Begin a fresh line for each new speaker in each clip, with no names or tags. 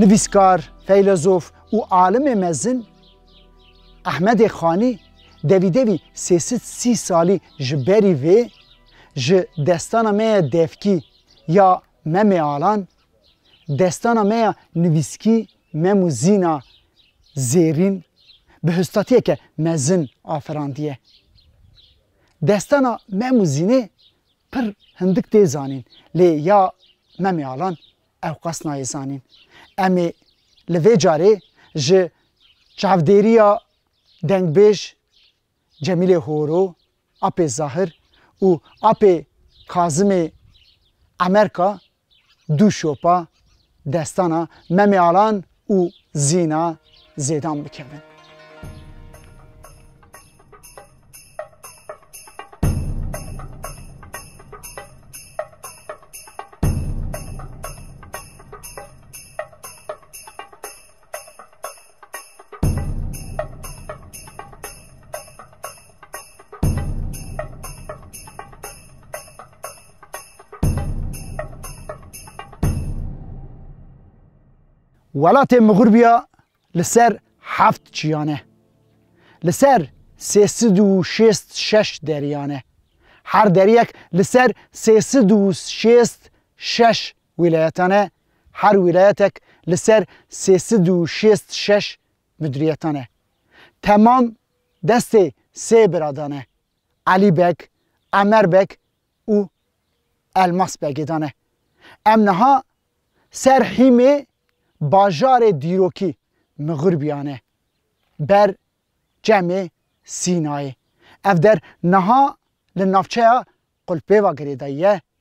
Nivîskar, feylezof û alimê mezin Ehmedê Xanî devî devî sê sed sî salî ji berî vê ji destana me ye devkî ya Memê Alan Destana me ya nivîskî Mem û Zîna Zêrîn bi hûstatiyeke mezin afirandiye. Destana Mem û Zînê pir hindik tê zanîn lê ya Memê Alan ewqas nayê zanîn. Em ê li vê carê ji çavdêriya dengbêj Cemîlê Horo, Apê Zahir û Apê Kazimê Emerka du şopa destana Memê Alan û Zîna Zêdan bikevin. Welatê Mixurbiya li ser heft çiyan e. Li ser sê sid û şêst şeş deriyan e. Her deriyek li ser sê sid û şêst şeş Wîlayetan e, her wîlayetek li ser sê sed û şêst û şeş midûriyetan e. Temam destê sê biradan e, Elî Beg, Emer Beg û Elmas Begê de ne. Em niha ser hîmê bajarê dîrokî Mixurbiyane ber Çemê Sînayê. Ev der niha li navçeya Qulpêvagirê de ye.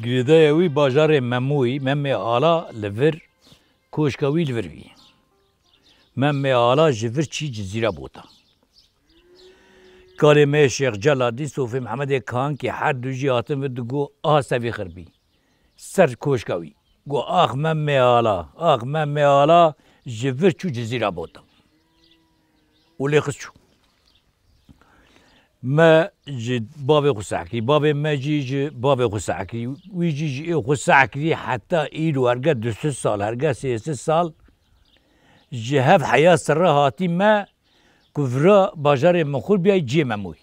Girêdaya wî bajarê Memoyî, Memmê Ala li vir koşka wî li vir bî. Memmê Ala ji vir çî Cizîra bota. Kalê me yê Şêx Celadî, Sofê Mihemedê Kankî her du jî hatin vir digo aha sevî xir bî ser koşka wî. Go ax Memmê Ala, ax Memmê Ala ji vir çû Cizîra bota. û lê xist çû. Me ji bavê xwe seh kir, bavê me jî ji bavê xwe seh kir. Wî jî ji ê xwe seh kirî heta îro hergeh du sih sal, hergeh sê sih sal ji hev heya serre hatî me ku vira bajarê Mixûr biyayî ciyê me mûyî.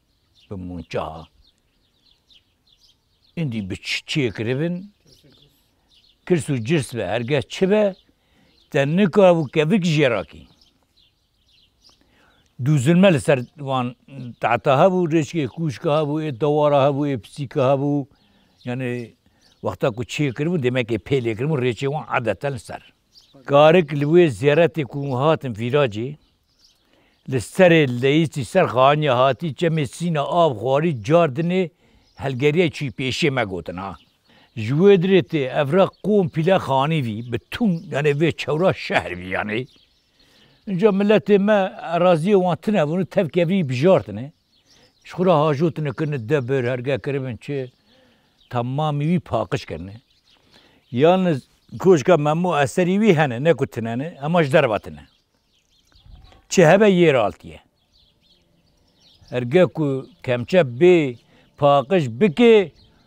bi munca îndî bi çiyê kiribin kirs û cirs be hergeh çi be te nika ev û kevik jê ra kî. Du zilme li ser wan tahta hebû rêçkê kûşka hebû ê dewara hebû ê pisîka hebû yanê wexta ku çiyê kiribû demekê pêlê kiribû rêçê wan adeten li ser. Garik li wê zêretê ku hûn hatin vîracê, li serê leyîsî ser xaniya hatî çemê sîna av xwarî car dinê helgeriyê çûyî pêşê me gotin a. Ji wê dirê tê ev re qûm pîle xanî vî bi tûn yanê vê çewra şehr vî yanê. Înca miletê me eraziyê wan tune vûn û tevkevî bijartine. Ji xwe re hajo tune kirine de bir herge kiribin çi temamî wî paqij kirine. Yan li koşka Memo eserî wî hene ne ku tune ne hema ji derve tune. Çi hebe yê re altiye. Herge ku kemçep bê paqij bike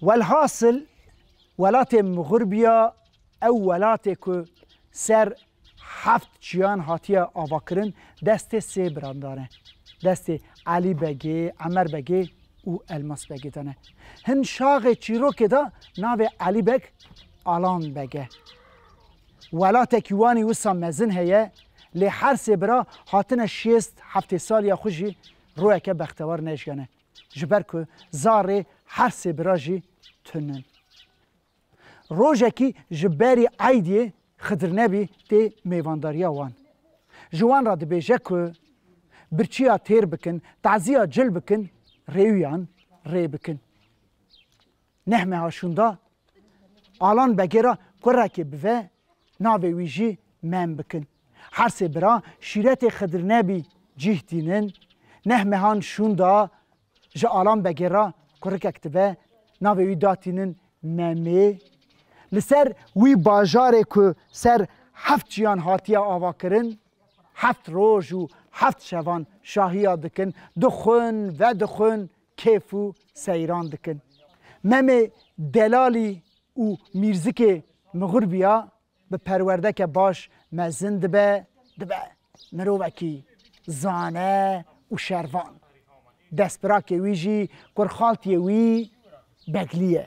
Welhasil welatê Mixurbiya ew welatê ku ser heft çiyan hatiye avakirin destê sê birandan e. Destê Elî Begê, Emer Begê û Elmas Begê de ne. Hin şaxê çîrokê de navê Elî Beg Alan Beg e. Welatekî wanî wisa mezin heye lê her sê bira hatine şêst heftê saliya xwe jî royeke bextewar nejgene. Ji ber ku zarê her sê bira jî tun in. Rojekî ji berî Eydiyê Xidirnebî tê mêvandariya wan. Ji wan re dibêje ku birçiya têr bikin, tazîya cil bikin, rêwiyan rê bikin. Neh meha şûnda Alan Begê re kurekê bive, navê wî jî Mem bikin. Her sê bira şîretê Xidirnebî cîh tînin. Neh mehan şûnda ji Alan Begê re kurikek dive, navê wî da tînin Memê. Li ser wî bajarê ku ser heft çiyan hatiye avakirin, heft roj û heft şevan şahiya dikin, dixwin, vedixwin, kêf û seyran dikin. Memê Delalî û Mîrzikê mixur biya, bi perwerdeke baş mezin dibe, dibe mirovekî zane û şervan. Destpirakê wî jî kurxaltiyê wî Beglî ye.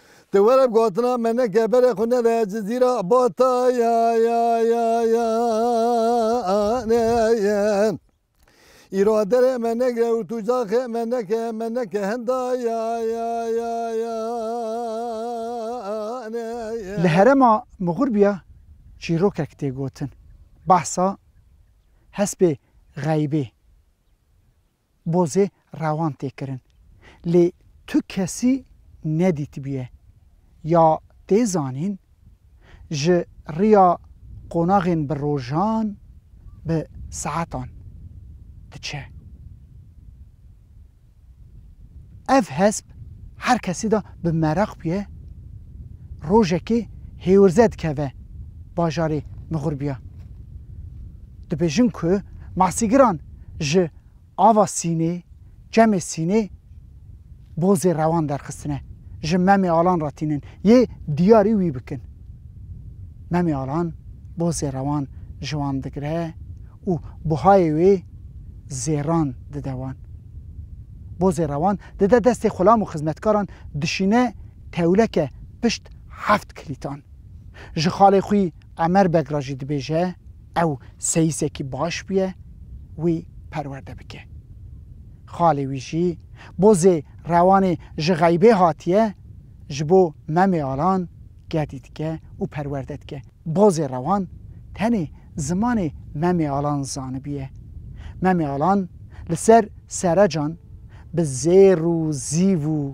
Te were bi gotina me ne keberê xwe nede Cizîra bata ya ya ya ya ne ye Îro derê me negre û tu caxê me neke me neke henda ya ya ya ya ne ye. Li herema
Mixurbiya çîrokek tê gotin, behsa hespê xeybê bozê rewan tê kirin. Lê tu kesî nedîtibûye ya tê zanîn ji riya qonaxên bi rojan, bi saetan diçe. Ev hesp her kesî de bi meraq bûye, rojekê hêwirze dikeve bajarê Mixurbiya. Dibêjin ku masîgiran ji ava sînê, çemê sînê bozê rewan derxistine, ji Memê Alan re tînin yê diyarî wî bikin. Memê Alan bozê rewan ji wan digire û buhayê wê zêran dide wan. Bozê rewan dide destê xulam û xizmetkaran dişîne tewleke pişt heft kilîtan. Ji xalê xwî Qamer Beg re jî dibêje ew seyisekî baş bûye wî perwerde bike. Xalê wî jî bo zê rewanê ji xeybê hatiye ji bo Memê Alan gedî dike û perwerde dike. Bo zê rewan tenê zimanê Memê Alan zanibûye. Memê Alan li ser serecan bi zêr û zîv û.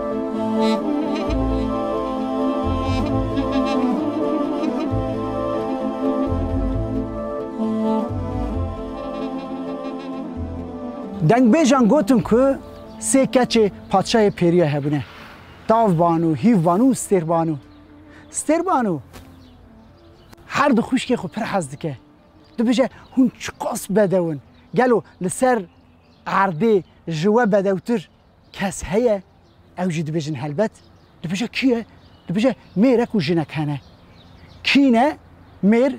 Dengbêjan gotin ku sê keçê padşahê pêrîya hebûne. Tavbanu, Hîvbanu û Stêrbanu. Stêrbanu her du xwişkê xwe pir hez dike. Dibije hûn çiqas bedew in. Gelo li ser erdê ji we bedewtir Kes heye ew jî dibêjin helbet. Dibêje kî ye? Dibêje mêrek û jinek hene. Kî ne? Mêr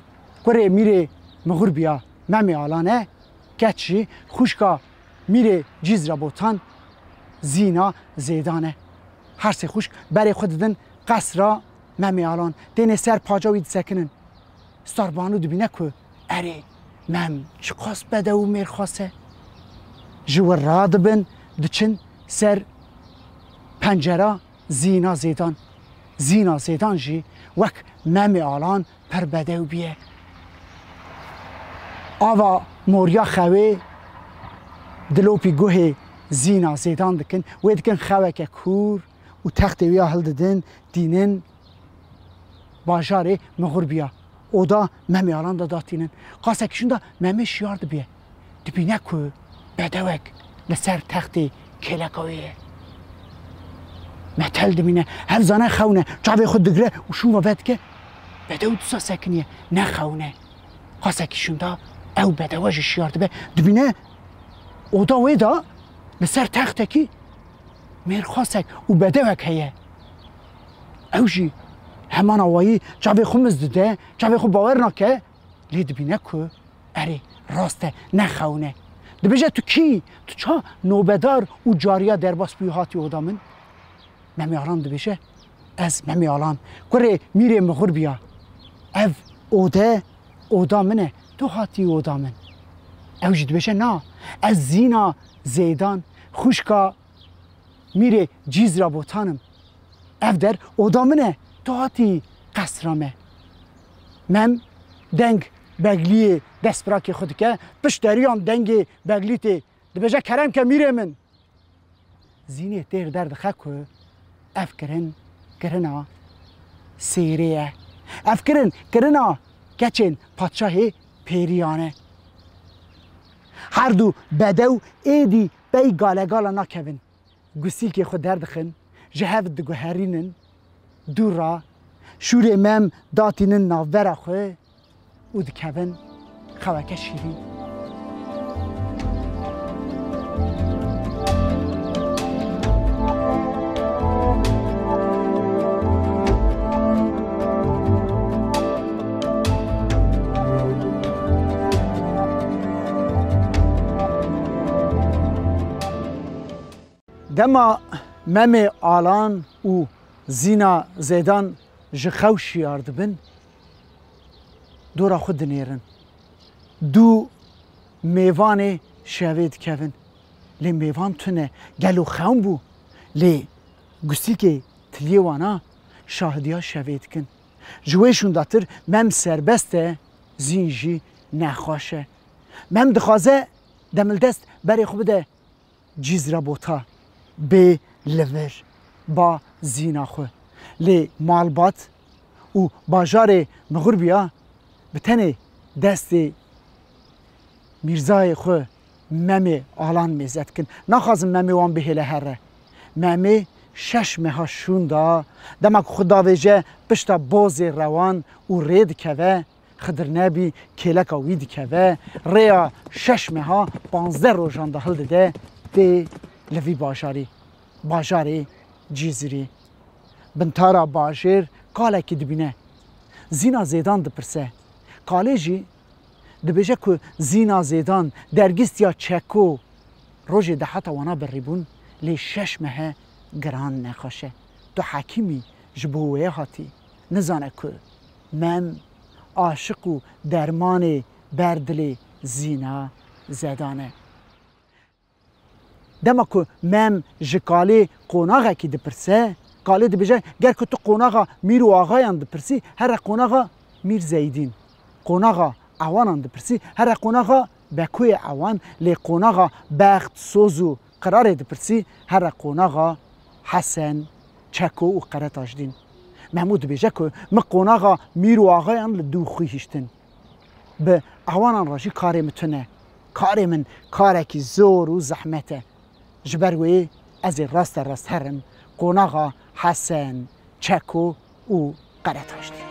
kurê mîrê Mixur biya Memê Alan e. Keç jî xwişka mîrê Cîz re Botan, Zîna, Zêdan e. Her sê xwişk berê xwe didin qesra Memê Alan. Tênê ser paca wî disekinin. Starbanu dibîne ku erê Mem, ji qas bedew û mêrxas e. Ji wir radibin, diçin ser pencera Zîna Zêdan. Zîna Zêdan jî wek Memê Alan pir bedew bûye. Ava moriya xewê dilopî guhê Zîna Zêdan dikin, wê dikin xeweke kûr û textê wî ya hildidin, tînin. Bajarê Mixurbiya oda Memê Alan de datînin. Qasek kişin de Memê şiyar dibiye. Dibîne ku bedewek li ser textê kêleka wê ye. Metel dimîne, hev zane xewne, çavê xwe digire û şûn ve vedike. Bedew disa sekiniye, ne xewne. Qasek kişin de ew bedewe ji şiyar dibe, dibîne oda wê de li ser textekî mêrxasek û bedewek heye. Ew jî heman awayî çavê xwe miz dide, çavê xwe bawer nake, lê dibîne ku erê rast e ne xewn e. Dibêje tu kî yî, tu ça nobedar û cariya derbas bûyî hatî oda min? Memê Alan dibêje, Ez Memê Alan, kurê Mîrê Mixur biya. Ev ode oda min e, tu hatî oda min. Ew jî dibêje, Na, ez Zîna Zêdan, xwişka Mîrê cîz ra botan im. Ev der oda min e, tu hatî qesra me. Mem deng Begliyê destbirakê xwe dike, pişt deriyan dengê Beglî tê, dibêje kerem ke Mîrê min. Zînê têr derdixe ku ev kirin kirina sêrê ye. Ev kirin kirina keçên padşahê pêriyan e. Her du bedew êdî Pey galegala nakevin, gusîlkê xwe derdixin, ji hev diguherînin dûr re, şûrê mem datînin navbera xwe û dikevin xeweke şîrîn. Dema memê Alan û Zîna Zêdan ji xew şiyar dibin, dora xwe dinêrin. Du mêvanê şevê dikevin. Lê mêvan tune gelo xewn bû. Lê gusîkê tiliyê wana şahidiya şevê dikin. Ji wê şûndatir mem serbest e, zîn jî nexweş e. Mem dixwaze demildest berê xwe bide Cîzra Bota, bê li vir, ba zîna xwe. Lê malbat û bajarê Mixurbiya bi tenê destê Mîrzayê xwe Memê alan mêze dikin. Naxwazin memê wan bihêle here. Memê şeş meha şûn da. Dema ku xwe davêje pişta bozê rewan û rê dikeve, Xidirnebî kêleka wî dikeve, rêya şeş meha panzdeh rojan de hildide tê li vî bajarî, bajarê Cîzirî. Bintara bajêr kalekî dibîne. Zîna Zêdan dipirse, Kalê jî Dibêje ku Zîna Zêdan dergîstiya Çeko rojê di heta wana birrîbûn lê şeş mehe giran nexweşe. Tu hekîmî ji bo wê hatî. Nizane ku mem, aşiq û dermanê ber dilê Zîna Zedan e. Dema ku mem ji kalê qonaxekî dipirse, kalê dibêje ger ku tu qonaxa mîr û axayan dipirsî here qonaxa mîr zeydîn, qonaxa ewanan dipirsî here qonaxa bekoyê ewan lê qonaxa bext, soz û qirarê dipirsî here qonaxa hesen, çeko û qeretaşdîn. Memo dibêje ku min qonaxa mîr û axayan li dû xwî hiştin. Bi ewanan re jî karê min tune. Karê min karekî zor û zehmet e. Ji ber wê ez ê raste rast herim qonaxa Hesen, Çeko û Qeretaştê.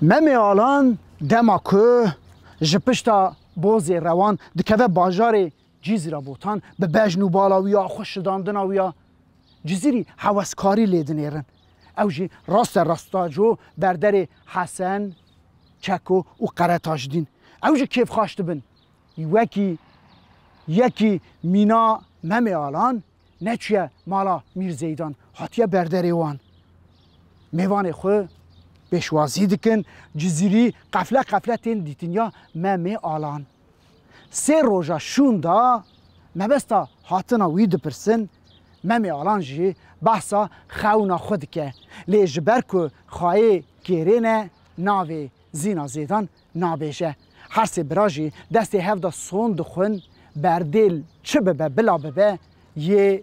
Memê Alan dema ku ji pişta bozê rewan dikeve bajarê Cîzîra Botan bi bejn û bala wî ya xwe şidandina wî ya Cizîrî heweskarî lê dinêrin. Ew jî raste rasta jo berderê Hesen, Çeko û Qeretaş dîn. Ew jî kêfxaş dibin. Wekî yekî mîna Memê Alan neçûye mala Mîr Zeydan, hatiye berderê wan. Mêvanê xwe pêşwazî dikin, Cizîrî qefle qefle tên dîtin ya Memê Alan. Sê roja şûn de mebesta hatina wî dipirsin, Memê Alan jî behsa xewna xwe dike, lê ji ber ku xayê kêrê ne navê Zîna Zêdan nabêje. Her sê bira jî destê hev de son dixwin, berdêl çi bibe bila bibe yê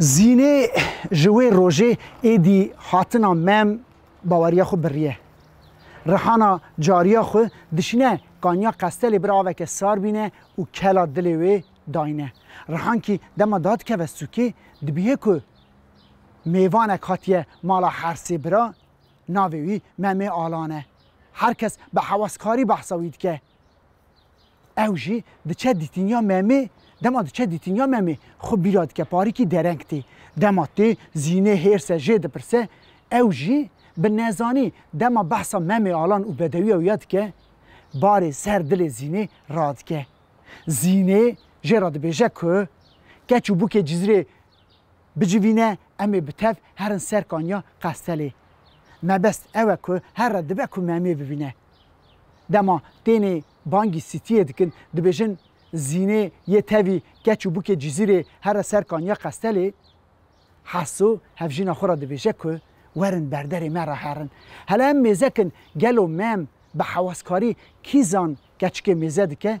Zînê ji wê rojê êdî hatina mem baweriya xwe biriye. Rihana cariya xwe dişîne qaniya qestelê bir aveke sar bîne û kela dilê wê dayne. Rihan kî dema dadikeve sûkê dibîhe ku mêvanek hatiye mala her sê bira, navê wî Memê Alan e. Her kes bi hewaskarî behsa wî dike. Ew jî diçe dîtiniya Memê, dema diçe dîtiniya Memê xwe bîra dike parîkî dereng tê. Dema tê zînê hêrse jê dipirse, ew jî bi nezanî dema behsa Memê Alan û bedewiya wî ya dike, barê ser dilê zînê radike. Zînê jê re dibêje ku keç û bûkê Cizîrê bicivîne em ê bi tev herin ser kaniya Qestelê. Mebest ew e ku herre dibe ku Memê bibîne. Dema tênê bangî sîtiyê dikin, dibêjin Zînê yê tevî keç û bûkê Cizîrê here ser kaniya Qestelê, Heso hevjîna xwe re dibêje ku werin berderê me re herin. Hele em mêze kin gelo mem bi hewaskarî kîzan keçikê mêze dike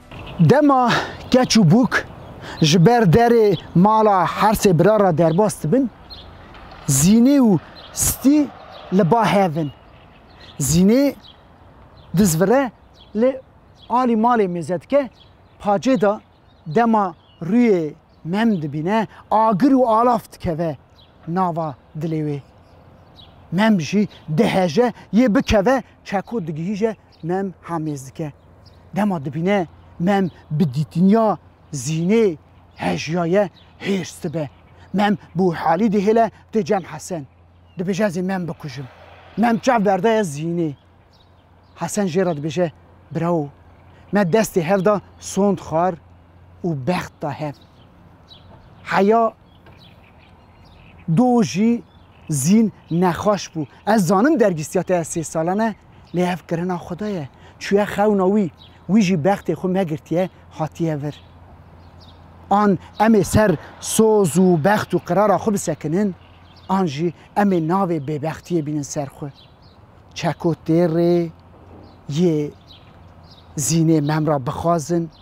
Dema keç û bûk ji ber derê mala her sê bira re derbas dibin, Zînê û Stî li ba hev in. Zînê diz vire lê alî malê mêze dike, pacê de dema rûyê Mem dibîne agir û alaf dikeve nava dilê wê. Mem jî diheje yê bikeve çeko digihîje Mem hamêz dike. Dema dibîne mem bi dîtiniya zînê hejyaye hêrs dibe. Mem bi wî halî dihêle tê cem Hesen. Dibêje ez ê mem bikujim. Mem çav berdaye zînê. Hesen jê re dibêje Bravo. Me destê hev da sond xwar û bext da hev. Heya Do jî zîn nexweş bû. Ez zanim dergîstiya te ya sê salan e, lê ev kirina xwe de ye. Çûye xewna wî, wî jî bextê xwe megirtiye, hatiye vir. An em ê ser soz û bext û qirara xwe bisekinin, an jî em ê navê bêbextiyê bînin ser xwe. Çeko tê rê yê zînê memra bixwazin,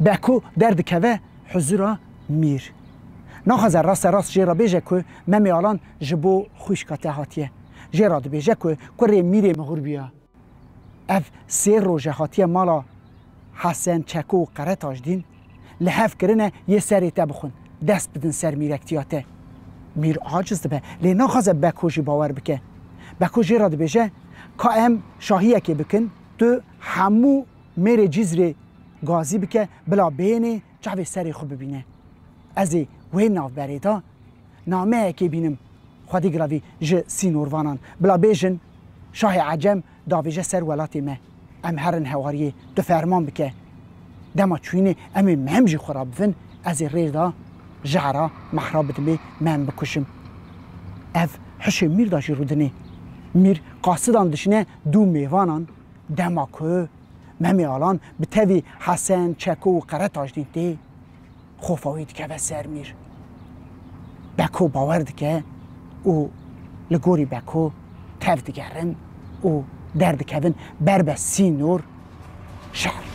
Beko derdikeve huzura Mîr. Naxwaze raste rast jê re bêje ku Memê Alan ji bo xwîşka te hatiye. Jê re dibêje ku kurê Mîrê mixûr bûye. Ev sê roje hatiye mala Hesen, Çeko û Qere Tajdîn. Li hev kirine yê serê te bixwin, dest bidin ser mîrektiya te. Mîr aciz dibe, lê naxwaze Beko jî bawer bike. Beko jê re dibêje, Ka em şahiyekê bikin, tu hemû Mêrê Cîzrê gazî bike bila bênê çavê serê xwe bibîne. Ez ê wê navberê de nameyekê bînim Xwedî Giravî ji sînorvanan bila bêjin şahê ecem davêje ser welatê me, em herin hewariyê tu ferman bike. Dema çûyînê em ê mem jî xwe re bivin, ez ê rê de ji era Mehra bidimê mem bikuşim. Ev hişê mîr de jî rûdinê. Mîr qasidan dişine dû mêvanan Dema ku Memê Alan bi tevî Hesen, Çeko û Qeretaş dîtî, xofa wî dikeve ser mîr. Beko bawer dike û li gorî Beko tev digerin û derdikevin ber be sînor şer.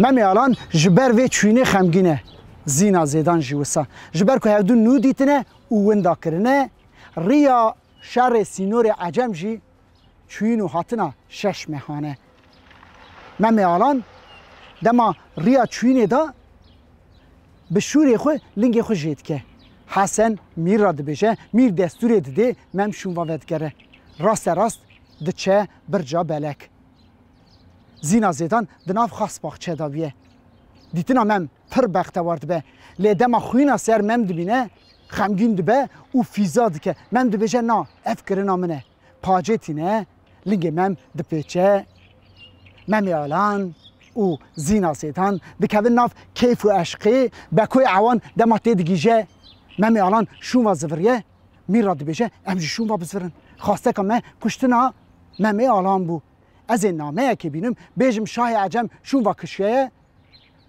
Memê Alan ji ber vê çûyînê xemgîn e. Zîna Zêdan jî wisa. Ji ber ku hevdu nû dîtine û winda kirine, riya şerê sînorê ecem jî çûyîn û hatina şeş mehane. Memê Alan dema riya çûyînê da bi şûrê xwe lingê xwe jê dike. Hesen Mîr ra dibêje, Mîr destûrê didê Mem şûnva vedigere. Raste rast diçe birca belek. Zîna Zêdan di nav xasbaxçe da bûye. Dîtina Mem pir bextewar dibe. Lê dema xwîna ser Mem dibîne xemgîn dibe û fîza dike. Mem dibêje na ev kirina min e. pacê tîne lingê mem dipêçe, Memê Alan û Zîna Sêtan dikevin nav keyf û eşqê, Bekoyê Ewan dema têdigîje Memê Alan şûnva ziviriye, mîr ra dibêje em jî şûnva bizvirin. Xwasteka me kuştina Memê Alan bû. Ez ê nameyekê bînim bêjim şahê ecem şûnva kişiyeye,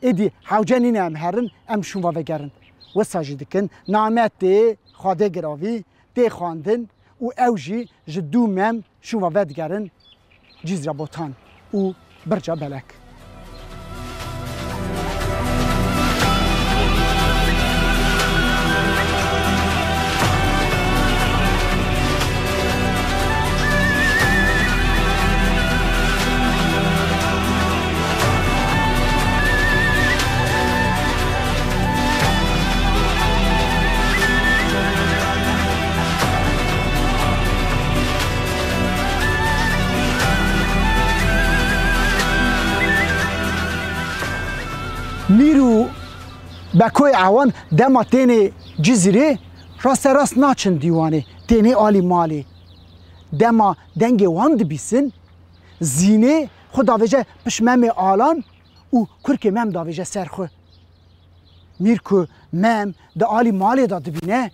êdî hewce nîne em herin em şûnva vegerin. Wisa jî dikin name tê xwedê giravî, tê xwendin û ew jî ji dû mem şûma vedigerin Cîzra Botan û Birca Belek. Mîr û Bekoyê Ewan dema tênê Cizîrê raste rast naçin dîwanê, tênê alî malê. Dema dengê wan dibîsin, zînê xwe davêje pişt memê alan û kurkê Mem davêje ser xwe. Mîr ku Mem di alî malê de dibîne,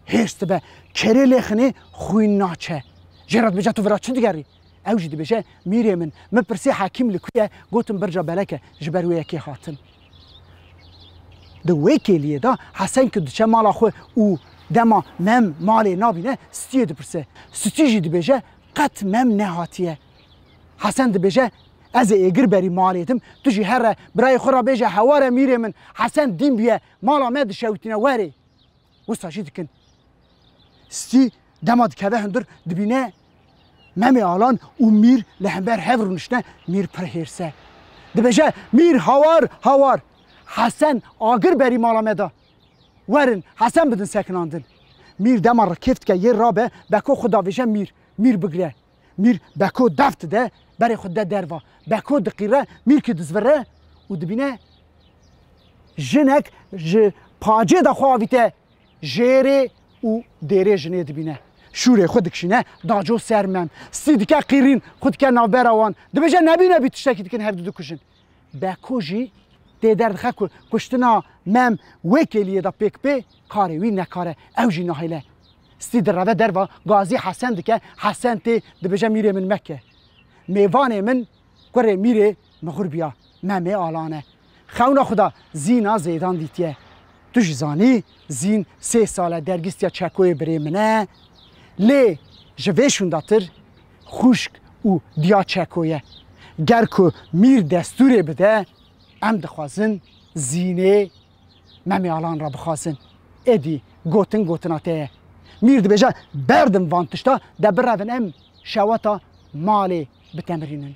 hêrs dibe, kerê lê xinê xwîn naçe. Jê re dibêje tu vira çi digerî? Ew jî dibêje, Mîrê min, min pirsî Hekîm li ku ye, gotin Birca Belek e, ji ber wê yekê hatin. Di wê kêliyê de Hesen ku diçe mala xwe û dema Mem malê nabîne, Stîyê dipirse. Stî jî dibêje, qet Mem nehatiye. Hesen dibêje, Ez ê êgir berî malê tim, tu jî here, birayê xwe re bêje heware mîrê min, Hesen dîn bûye, mala me dişewitîne werê. Wisa jî dikin. Stî dema dikeve hundir dibîne Memê Alan û Mîr li hember hev rûniştine, Mîr pir hêrs e. Dibêje, Mîr hawar, hawar, Hesen agir berî mala me da. Werin, Hesen bidin sekinandin. Mîr dema rikêf dike yê rabe, beko xwe davêje Mîr, Mîr bigire. Mîr Beko dev dide, berê xwe dide derva. Beko diqîre, mîrkî dizvire û dibîne jinek ji pacê de xwe avîte jêrê û dêrê jinê dibîne. Şûrê xwe dikişîne daco ser mem. Stî dike qîrîn, xwe dike navbera wan. Dibêje nebî nebî tiştekî dikin hevdu dikujin. Beko jî tê derdixe ku kuştina Mem wê kêliyê de pêk bê, karê wî nekare ew jî nahêle. Stî direve derva Gazî Hesen dike, Hesen tê dibêje mîrê min meke. Mêvanê min kurê mîrê mixûr biya, Memê alane. Xewna xwe de Zîna zêdan dîtiye. Tu jî zanî Zîn sê sal e dergîstiya Çekoyê birê min e. Lê ji vê şûndatir. Xwişk û diya Çeko ye. Ger ku Mîr destûrê bide, em dixwazin Zînê Memê Alan re bixwazin. Êdî gotin gotina te ye. Mîr dibêje berdim van tişta de birevin em şewata malê bitemirînin.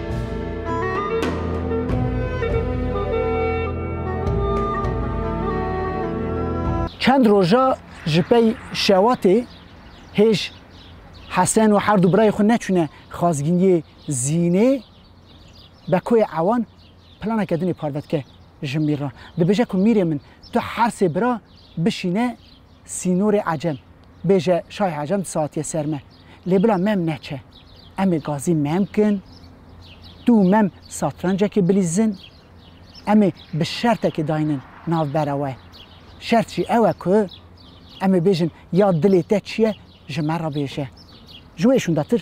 Çend roja ji pey şewatê hêj Hesen û her du birayê xwe neçûne xazgîniyê Zînê, Bekoyê Ewan planeke din ê parve dike ji Mîr re. Dibêje ku Mîrê min tu her sê bira bişîne sînorê Ecem. Bêje şayê Acem di saetiyê ser me. Lê bila mem neçe. Em ê gazî mem kin. Tu û mem satrancekê bilîzin. Em ê bi şertekê daynin navbera we. Şert jî ew e ku em ê bêjin ya dilê te çi ye ji me re bêje. Ji wê şûndetir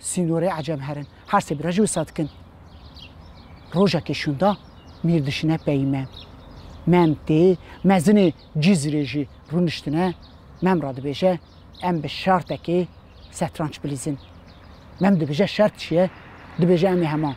Sînorê ecem herin. Her sê bi re jî wisa dikin. Rojekê şûnda mîr dişine peyî mem. Mem tê, mezinê Cîzrê jî rûniştine, mem re dibêje em bi şertekê setranç bilîzin. Mem dibêje şert çi ye? Dibêje em ê hema.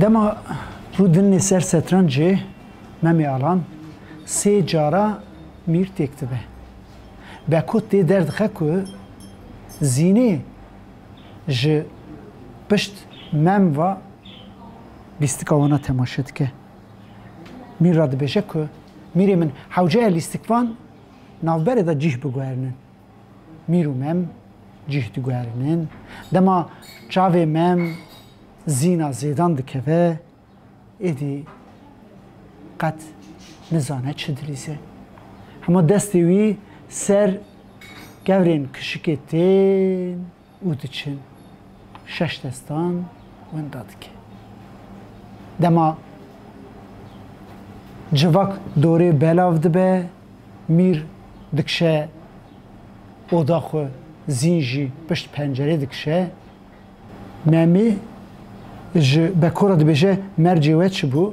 Dema rû dinê ser setrancê Memê Alan sê cara mîr têk dibe. Beko tê derdixe ku zînê ji pişt mem ve lîstika wan a temaşe dike. Mîr radibêje ku mîrê min hewceya lîstikvan navberê de cîh biguherinin. Mîr û mem cîh diguherinin. Dema çavê mem zîna zêdan dikeve êdî qet nizane çi dilîze. Hema destê wî ser kevrên kişikê tên. û diçin, şeş destan winda dike. Dema civak dorê belav dibe, mîr dikişe oda xwe, zîn jî pişt pencerê dikişe. Memî ji bekora dibêje, Mercê we çi bû?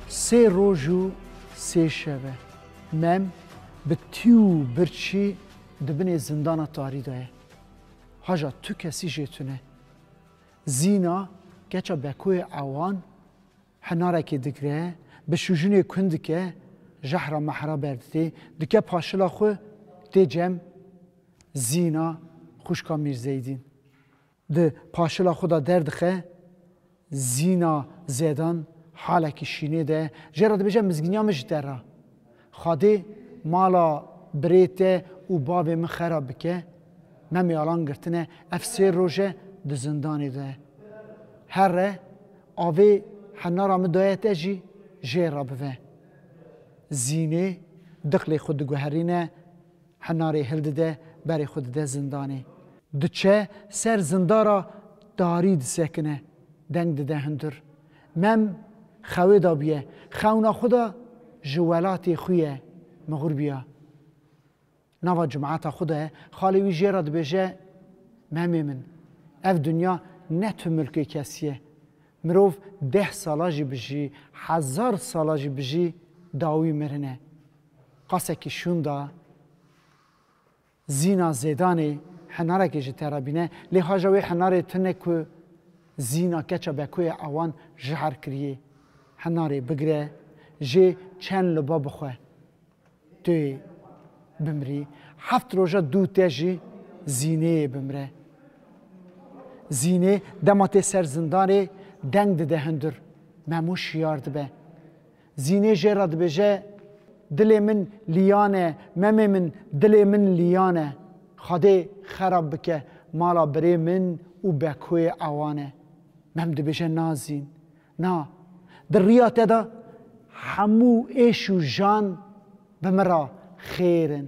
Sê roj û sê şeve mem bi tî û birçî di binê zindana tarî de ye. Haja tu kesî jê tune. Zîna keça Bekoyê ewan henarekê digre, bi şûjinê kûn dike, jehra mehra berdidê, dike paşila xwe, tê cem Zîna xwişka Mîrzeydîn. Di paşila xwe de derdixe Zîna Zedan halekî şînê de jê re dibêje mizgîniya min ji te re. Xwedê mala birê te û bavê min xerab bike. Me mêalan girtine ev sê roj e di zindanê de here. Avê henara min daye te jî jê re bive. Zînê diqlê xwe diguherîne. Henarê hildide berê xwe dide zindanê. Diçe ser zindara darî disekine. Deng dide hundir. Mem xewê da bûye. Xewna xwe da ji welatê xwe ye. Mixûr bûya. Nava cumata xwe de xalê wî jê re dibêje, Memê min, ev dinya ne tu milkê kesî ye. Mirov deh sala jî bijî, hezar sala jî bijî dawî mirine. Qasekî şûnda Zîna Zêdanê henarekê ji te re bîne, lê haja wê henarê tu ne ku Zîna keça Bekoya Awan jihar kiriyê. Henarê bigire jê çend loba bixwe. Tu yê bimirî. Heft roja dû te jî Zînê yê bimire. Zînê dema tê ser zindanê deng dide hundur. Memû şiyar dibe. Zînê jê re dibêje, Dilê min lîyan e, memê min dilê min lîyan e. Xwedê xerab bike mala birê min û bekoyê ewan e. Mem dibêje na zîn, na. Di riya te de hemû êş û jan bi min re xêr in.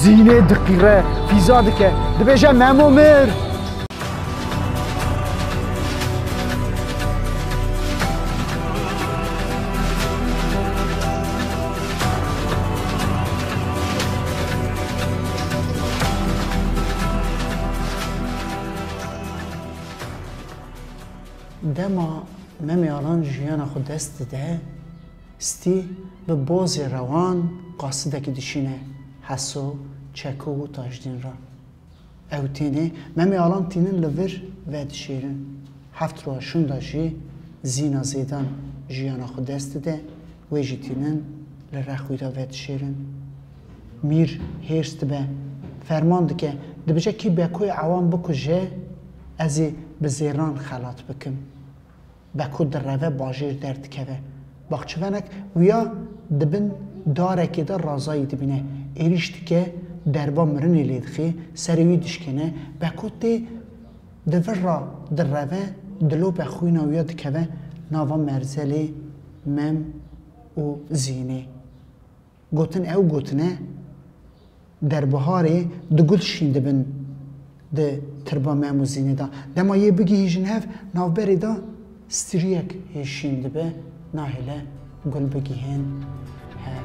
Zînê diqîre, fîza dike, dibêje Memo mir! dema Meme Alan jiyana xwe dest dide, Stî bi bozê rewan qasidekî dişîne Heso, Çeko û Tajdîn re. Ew tênê Memê Alan tînin li vir vedişêrin. Heft roja şûnda jî Zîna Zêdan jiyana xwe dest dide, wê jî tînin li Rexwîda vedişêrin. Mîr hêrs dibe, ferman dike dibije kî Bekoyê Ewan bikuje, ez ê bi zêran xelat bikim. Be ku direve bajêr derdikeve. Baxçivenek wiya di bin darekê de razayî dibîne. Êrîş dike, derba mirinê lê dixê, serê wî dişkêne. Be ku tê di vir ra direve, dilope xwîna wiya dikeve nava merzelê, mem û zînê. Gotin ew gotine derbiharê du gul şîn dibin di tirba Memûzînê de. Dema yê bigihîjin hev navberê de striyek yê şîn dibe nahêle gul bigihên hev.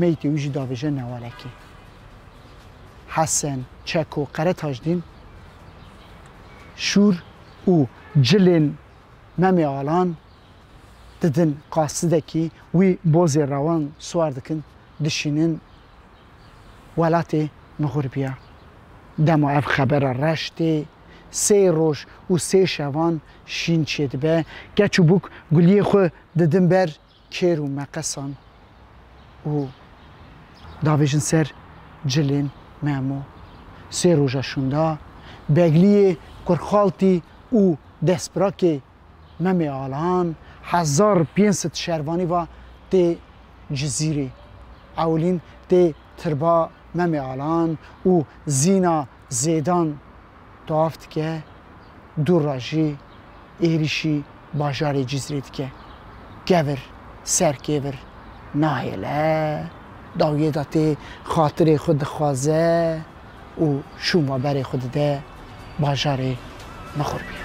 Meyîtê wî jî davêje Newarekê. Hesen, Çeko, Qere Tajdîn, Şûr û cilên Memê Alan didin qasidekî wî bozê rewan siwar dikin dişînin welatê Mixurbiya. Dema ev xebera reş tê sê roj û sê şevan şîn çêdibe, keç û bûk guliyê xwe didin ber Kêr û meqesan û dabêjin ser cilên Memo. Sê roja şûnda Begliyê Kurxaltî û Destpirakê Memê Alan hezar pênc sed şervanî va tê Cizîrê. Ewilîn tê Tirba Memê Alan û Zîna Zêdan Tawaf dike, du re jî êrîşî bajarê Cizrê dike. Kevir ser kêvir nahêle, dawiyê de tê xatirê xwe dixwaze û şûnva berê xwe dide bajarê Mixurbiya.